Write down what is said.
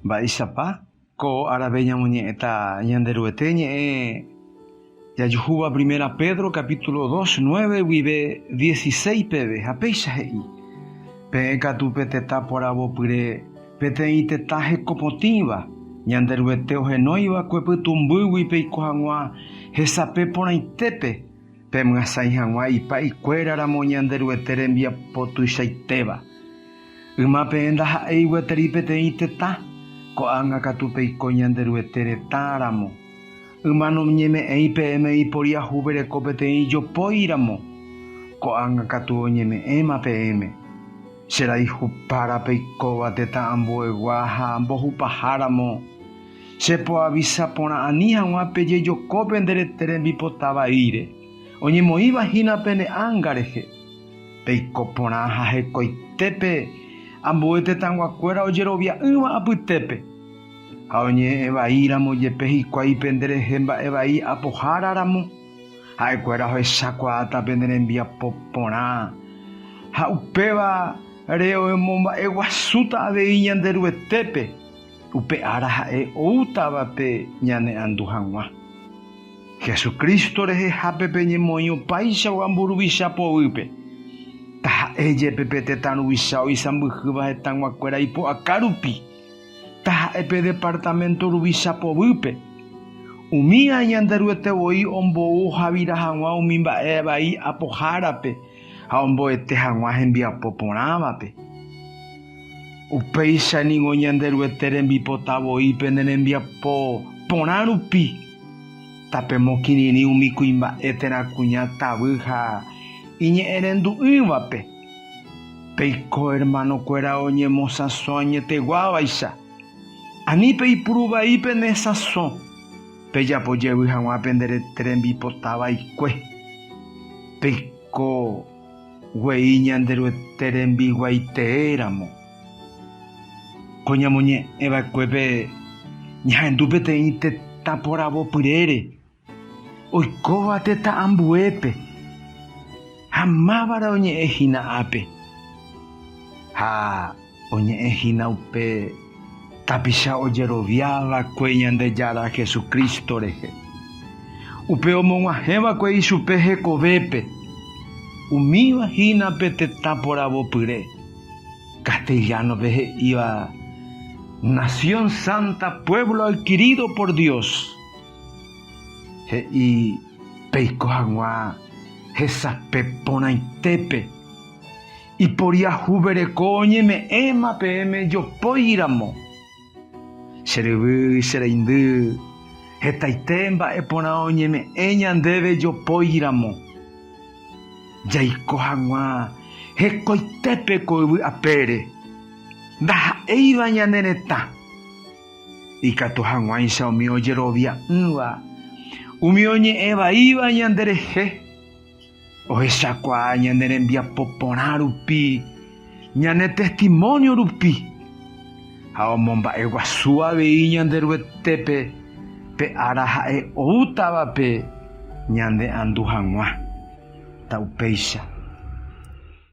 Mba'éichapa ko árape ñamoñe'ẽta Ñanderuete ñe'ẽ jajuhúva Primera Pedro capítulo dos, nueve guive dieciséis peve, ha péicha he'i, Peẽ katu pe tetã poravopyre, peteĩ tetã hekopotĩva, Ñanderuete ohenóiva ko pytũmbýgui peiko hag̃ua hesape porãitépe, pemyasãi hag̃ua ipa'ikuéra ramo Ñanderuete rembiapo tuichaitéva. Yma peẽ ndaha'éi gueteri peteĩ tetã, ko'ág̃a katu peiko Ñanderuete retã ramo. Yma noñeme'ẽi peẽme iporiahu pereko peteĩ jopói ramo, ko'ág̃a katu oñeme'ẽma peẽme. Che raihupára peikóva tetã ambuegua ha mbohupaha ramo, che poavisa porã ani hag̃ua pejejoko pende rete rembipota vaíre, oñemoĩva hína pene ánga rehe. Peiko porã ha hekoitépe ambue tetãguakuéra ojerovia'ỹva apytépe, ha oñe'ẽ vai ramo jepe hikuái pende rehe mba'e vai apohára ramo, ha'ekuéra ohechakuaáta pende rembiapo porã, ha upéva re oemomba'e guasúta avei Ñanderuetépe, upe ára ha'e oútavape ñane'andu haguã. Jesucristo rehehápe peñemoĩ opaichagua mburuvicha poguýpe. Taha'e jepe pe tetã ruvicha oisãmbyhýva hetãguakuéra ipu'aka rupi, taha'e pe departamento ruvicha poguýpe. Umi aĩ Ñanderuete voi ombou ohavira hag̃ua umi mba'e vai apohárape ha omboete hag̃ua hembiapo porãvape. Upéicha ningo Ñanderuete rembipota voi pene rembiapo porã rupi. Tapemokirirĩ umi kuimba'e térã kuña tavy ha iñe'ẽrendu'ỹvape. Peiko ermanokuéra oñemosãso añeteguávaicha. Ani peipuru vai pene sãso, pejapo jevy hag̃ua pende rete rembipota vaikue. Peiko guei Ñanderuete rembiguaitéramo. Ko ñamoñe'ẽ va'ekuépe ñahendu peteĩ tetã poravopyrére, oikóva tetã ambuépe ha mávare oñe'ẽ hína ápe, ha oñe'ẽ hína upe tapicha ojerovia va'ekue Ñandejára Jesucristo rehe, upe omog̃uahẽ va'ekue ichupe hekovépe, umíva hína pe tetã poravopyre. Castellano-pe he'íva nación santa, pueblo adquirido por Dios, he'i peiko hag̃ua hesape porãitépe, iporiahuvereko oñeme'ẽma peẽme jopói ramo. Che ryvy, che reindy, hetaite mba'e porã oñeme'ẽ ñandéve jopóigui ramo. Jaiko haguã hekoitépe ko yvy apére, ndaha'éiva ñane retã. Ikatu haguãicha umi ojerovia'ỹva, umi oñe'ẽ vaíva ñande rehe. Ohechakuaa ñane rembiapo porã rupi, ñane testimónio rupi, ha omomba'e guasu avei Ñanderuetépe pe ára ha'e oútavape ñane'andu hag̃ua. Ta upéicha.